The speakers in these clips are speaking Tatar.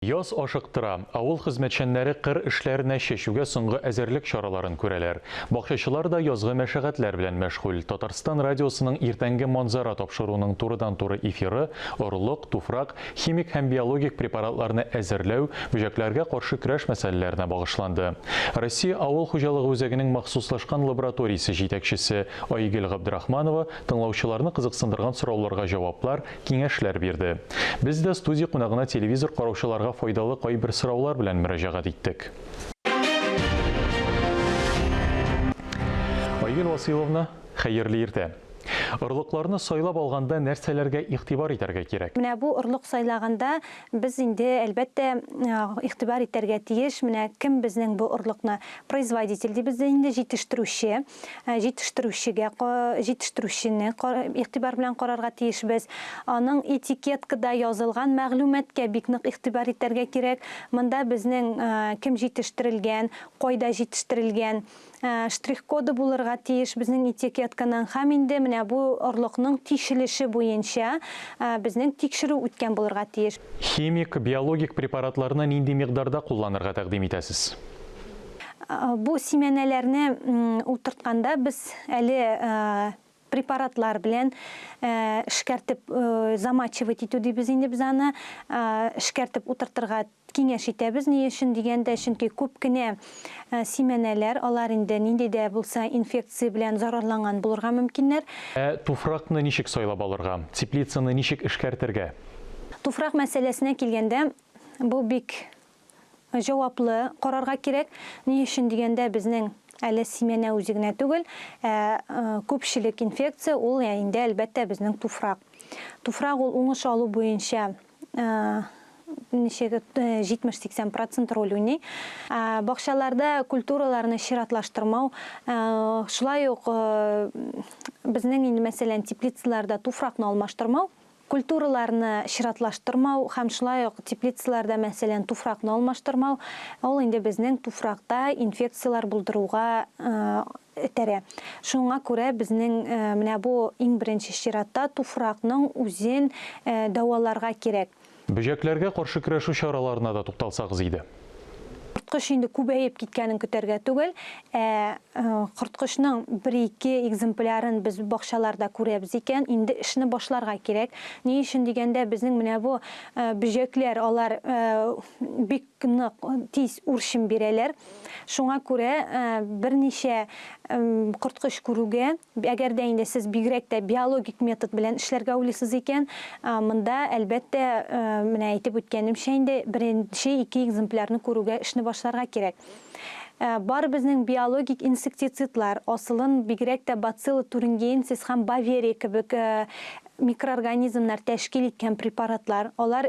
Яз ашыктыра, авыл хезмәтчәннәре кыр эшләренә чәчүгә соңгы әзерлек чараларын күрәләр. Бакчачылар да язгы мәшәгатьләр белән мәшгуль. Татарстан радиосының иртәнге манзара тапшыруының турыдан-туры эфиры, орлык, туфрак, химик һәм биологик препаратларны әзерләү, бөҗәкләргә каршы көрәш мәсьәләләренә багышланды. Россия авыл хуҗалыгы үзәгенең махсуслашкан лабораториясе җитәкчесе Айгөл Габдрахманова тыңлаучыларны кызыксындырган сорауларга җаваплар, киңәшләр бирде. Без дә студия кунагына телевизор караучыларга файдалы кайбер сораулар белән мөрәҗәгать иттек. Айгөл Васыйловна, хәерле иртә! Орлыкларны сайлап алганда нәрсәләргә игътибар итәргә кирәк? Менә бу орлык сайлаганда без инде, әлбәттә, игътибар итәргә тиеш, менә кем безнең бу орлыкны производитель дибез инде, җитештерүче. җитештерүчегә, җитештерүчене игътибар белән карарга тиешбез. Аның этикеткада язылган мәгълүматка бик нык игътибар итәргә кирәк. Монда безнең кем җитештерелгән, кайда җитештерелгән, штрих-коды булырга тиеш безнең этикетканың һәм инде менә бу орлыкның тишелеше буенча безнең тикшерү үткән булырга тиеш. Химик, биологик препаратларны нинди микъдарда кулланырга тәкъдим итәсез? Бу симәнәләрне утыртканда без әле препаратлар белән эшкәртеп замачивать итү дибез инде без аны, эшкәртеп утыртырга киңәш итәбез. Ни өчен дигәндә, чөнки күп кенә симәнәләр, алар инде нинди дә булса инфекция белән зарарланган булырга мөмкиннәр. Ә туфракны ничек сайлап алырга? Теплицаны ничек эшкәртергә? Туфрак мәсьәләсенә килгәндә, бу бик җаваплы карарга кирәк. Ни өчен дигәндә, безнең әле симәнә үзе генә түгел, ә күпчелек инфекция ул инде, әлбәттә, безнең туфрак. Туфрак ул уңыш алу буенча ничек 70-80 процент роль уйный. Бакчаларда культураларны чиратлаштырмау, шулай ук безнең инде мәсәлән теплицаларда туфракны алмаштырмау, Культураларны чиратлаштырмау һәм шулай ук теплицаларда, мәсәлән, туфракны алмаштырмау, ул инде безнең туфракта инфекцияләр булдыруга этәрә. Шуңа күрә безнең менә бу иң беренче чиратта туфракның үзен дәваларга кирәк. Бөҗәкләргә каршы көрәшү чараларына да тукталсагыз иде. корткыч инде күбәеп киткәнен көтәргә түгел, ә э, корткычның бер-ике экземплярын без бакчаларда күрәбез икән, инде эшне башларга кирәк. Ни өчен дигәндә, безнең менә бу э, бөҗәкләр, алар э, бик нык тиз үрчем бирәләр. Шуңа күрә берничә корткыч күрүгә, әгәр дә инде сез бигрәк тә биологик метод белән эшләргә уйлыйсыз икән, монда, әлбәттә, менә әйтеп үткәнемчә инде, беренче ике экземплярны күрүгә эшне башларга кирәк. Бар безнең биологик инсектицидлар, асылын бигрәк тә Bacillus thuringiensis һәм Баверия кебек микроорганизмнар тәшкил иткән препаратлар, алар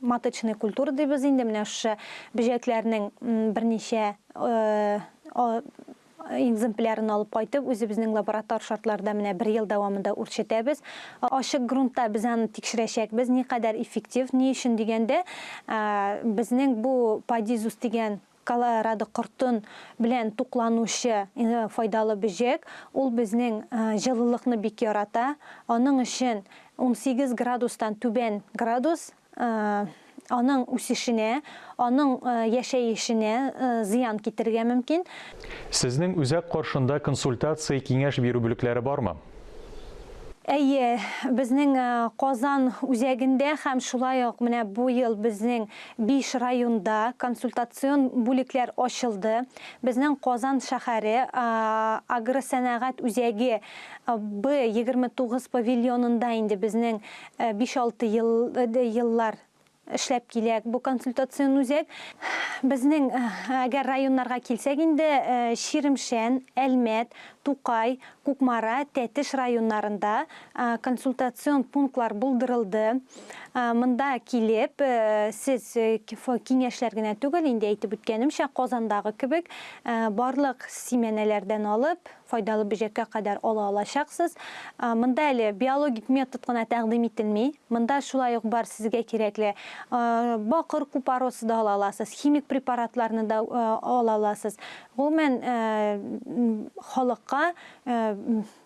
маточный культура дибез инде менә шушы бөҗәкләрнең берничә экземплярын алып кайтып, үзебезнең лаборатор шартларда менә бер ел дәвамында үрчетәбез. Ачык грунтта без аны тикшерәчәкбез, никадәр эффектив, ни өчен дигәндә, безнең бу Padizuz дигән Колорадо кортын белән тукланучы файдалы бөҗәк, ул безнең җылылыкны бик ярата, аның өчен унсигез градустан түбән градус аның үсешенә, аның яшәешенә зыян китерергә мөмкин. Сезнең үзәк каршында консультация-киңәш бирү бүлекләре бармы? Әйе, безнең Казан үзәгендә һәм шулай ук менә бу ел безнең Биш районда консультацион бүлекләр ачылды. Безнең Казан шәһәре агросәнәгать үзәге Б-29 павильонында инде безнең биш-алты еллар эшләп килә бу консультацион үзәк. Безнең, әгәр районнарга килсәк инде, Чирмешән, Әлмәт, Тукай, Кукмара, Тәтеш районнарында консультацион пунктлар булдырылды. Монда килеп, сез киңәшләр генә түгел, инде әйтеп үткәнемчә, Казандагы кебек, барлык симәнәләрдән алып, файдалы бөҗәккә кадәр ала алачаксыз. Монда әле биологик метод кына тәкъдим ителми. Монда шулай ук бар сезгә кирәкле бакыр купоросы да ала аласыз, химик препаратларны да ала аласыз. Гомумән, халыкка,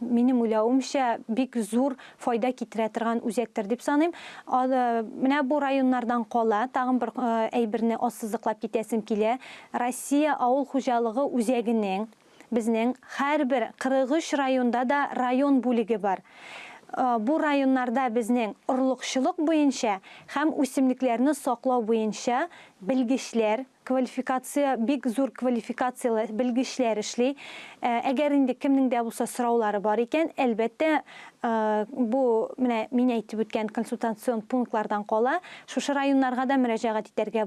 минем уйлавымча, бик зур файда китерә торган үзәктер дип саныйм. Менә бу районнардан кала, тагын бер әйберне ассызыклап китәсем килә. Россия авыл хуҗалыгы үзәгенең, безнең һәрбер 43 районда да район бүлеге бар. Бу районнарда безнең орлыкчылык буенча һәм үсемлекләрне саклау буенча белгечләр, Квалификация, бик зур квалификацияле белгечләр эшли. Әгәр инде кемнең дә булса сораулары бар икән, әлбәттә, бу менә мин әйтеп үткән консультацион пунктлардан кала, шушы районнарга да мөрәҗәгать итәргә була.